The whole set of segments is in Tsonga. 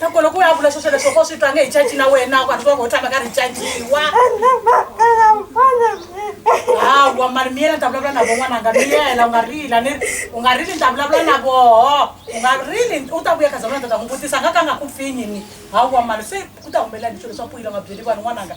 loko loko u ya vula sweswo leswo ko swi twa nge hi caci na wena ku hatliwa ngo u tshama ka ri caciwa hawa mali miyela ni ta vulavula na vo n'wananga miyela u nga rila ni u nga rili ni ta vulavula na voho u nga rili u ta vuya khaza vona ta ta n'wi vutisa nga ka nga ku pfinyini hawa mali se ku ta humelela ni swilo swa puyila nga byeli vanhu n'wananga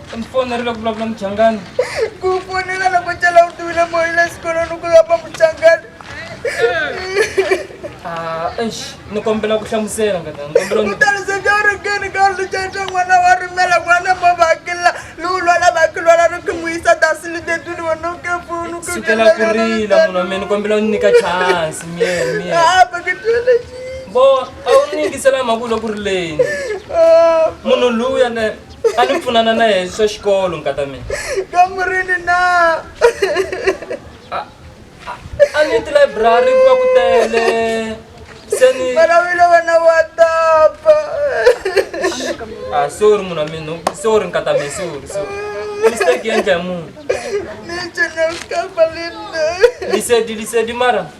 Ndzi fonele ku vulavula muchangani. Ku fonela loko cela u tiwile moya le xikolweni ku lava muchangani. Ah, eish, ni kombela ku hlamusela ngata, ni kombela ni- Mutharisa ja u ri kini ka lu ja ja n'wana wa rimela n'wana mo vakila lowu lwala vakilwala ri ku n'wi yisa dasini deduni wa no ke punu ku sukela ku rila munhu wa mina ni kombela u ni nyika chance miyele miyele Ah, ba ke tele ji. bo a wu ni yingisela mhaka u le ku rileni Ah. munhu luya le a ni pfunana na yena swa xikolo nkata mina kamurini na a ni tilayiburari ku va ku tele se ni malavilo wena wa tapa a ah, sorry munhu wa mina sorry nkata mina sorry sorry mistake yendla ya munhu nijenekafalina lisedi lisedi mara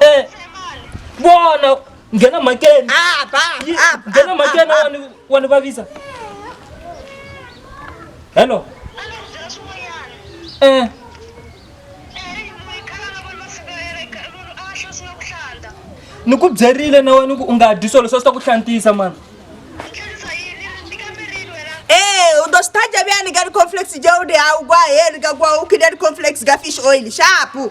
Eh, vona nghena makeni Ah, ba, Yi- ah, ba, nghena ah, makeni ah. wani wani vavisa hello eh ni ku byerile na wena ku u nga dyi swilo swa swi ta ku hlantisa mani Eh, u ḓo sithaja vhuyani nga ri conflex ja u ndi hau gwa heri nga gwa u khida ri conflex nga fish oil shapu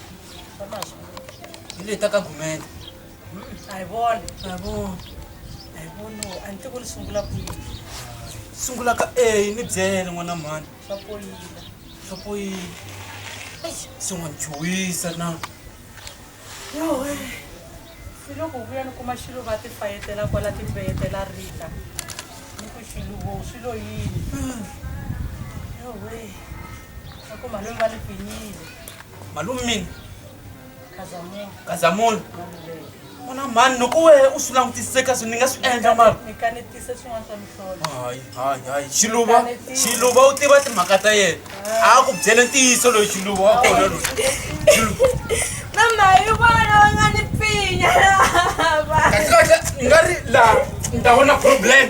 Ile ta ka gumela. Hi vona. Hi vona. Hi vona. A ni tivi ni sungula kwihi. Sungula ka A ni byele n'wana mhani. Swa poyila. Swa poyila. Se n'wa ni chuwisa na. Yo he. Ni loko vuya ni kuma xilo va ti fayetela kwala ti fayetela rita. Ni ku xilo wo swi lo yini. Yo he. A ku mhani va ni pfinyile. malume mina kazamunhu ona mhani loko wehe u swi langutiseka swi ni nga swi endla mara hayi hayi hayi xiluva xiluva u tiva timhaka ta yena a ku byele ntiyiso loyi xiluva wa kona loyi kasi kahle ni nga ri laha ni ta vona problem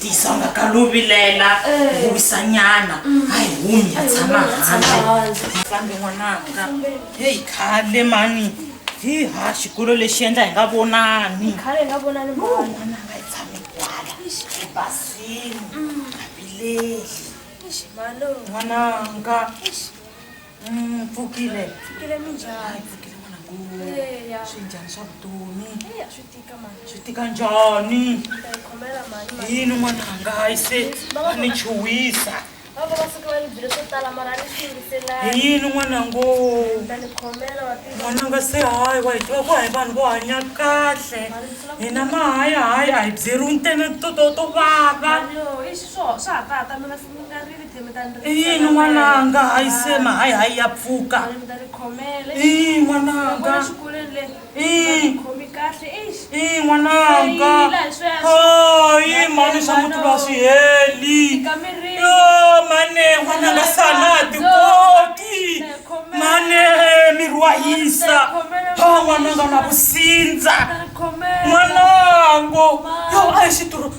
tisanga ka lo vilela ku wisanyana a hi humi ya tshama handle fambe n'wananga heyi khale mani hi ha xikolo lexi endla hi nga vonani n'wananga yi tshame kwala ebasini abileli n'wananga Mm, pfukile pfukile minjhani pfukile n'wana ku swi njhani swa vutomi swi tika mani swi tika njhani yini n'wana hangayi se a ni chuwisa hi yini n'wana ngo n'wana nga se hayi wa hi tiva ku hayi vanhu vo hanya kahle hina mahayi hayi a hi byeriwi ntene to to to vava i yini n'wananga hayi sema hayi hayi ya pfuka i n'wananga i n'wananga hayi mhani swa muti lwa swi heli yo mane n'wananga sana tikoti mane miri wa hisa ha n'wananga na vusindza n'wanango yo a hi xituru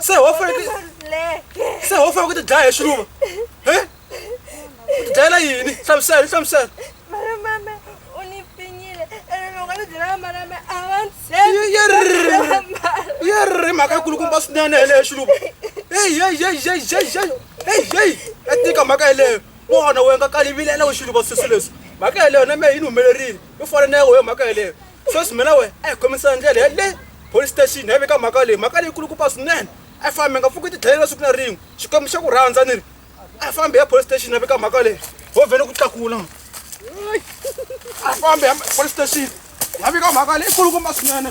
se ho fanekele se ho fanekele ku ti dlaya hi xiluva he u ti dlayela yini hlamusela yi hlamusela yerri mhaka yikulukumba swinene yeleyo xiluva eyeyeyeyeyeyeyeyi ya tika mhaka yeleyo vona we nga kalivilela u xiluva sweswi leswi mhaka yeleyo na me yi ni humelerile yo fana na ya wehe mhaka yeleyo sweswi mina wena a hi khomisana ndlela ya le police station ya veka mhaka leyi mhaka leyi kulukumba swinene a fambe nga pfuki tidlayela siku na rin'we xikwembu xa ku rhandza ni ri a fambe ya police station ya veka mhaka leyi ho vhele ku tlakula a fambe ya police station ya veka mhaka leyi kulukumba swinene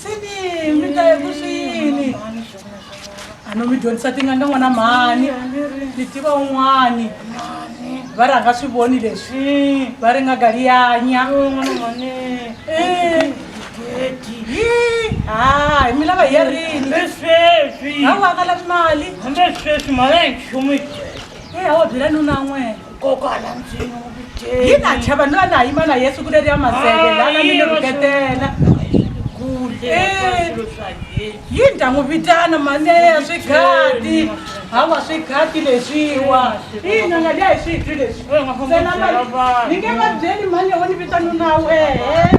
sini mi ta ya ku swini a no mi dyondzisa tinga ni n'wana mhani ni tiva un'wani va rhanga swi voni leswi va ri nga galiyanya ha hi mi lava hi ya rini a wu aka lavi mali a wa byela nuna n'wena kokwala ndzwini wu viteni yi na chava ni va na yima na yesu ku leri ya maseve lana mi ni rhuketela yi ni ta n'wi vitana maneya swighati hawa swighati leswiwa ina nga liya hi switwi leswi ni nge va byeli mane wo ni vita nuna wehe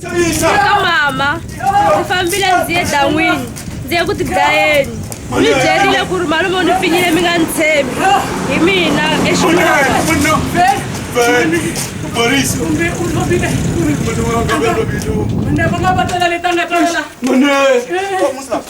ka mama ndzi fambile ndzi ye dan'wini ndzi ye ku tidlayeni mi byerile ku ri malume u ni pfinyile mi nga ni tshembi hi mina exilova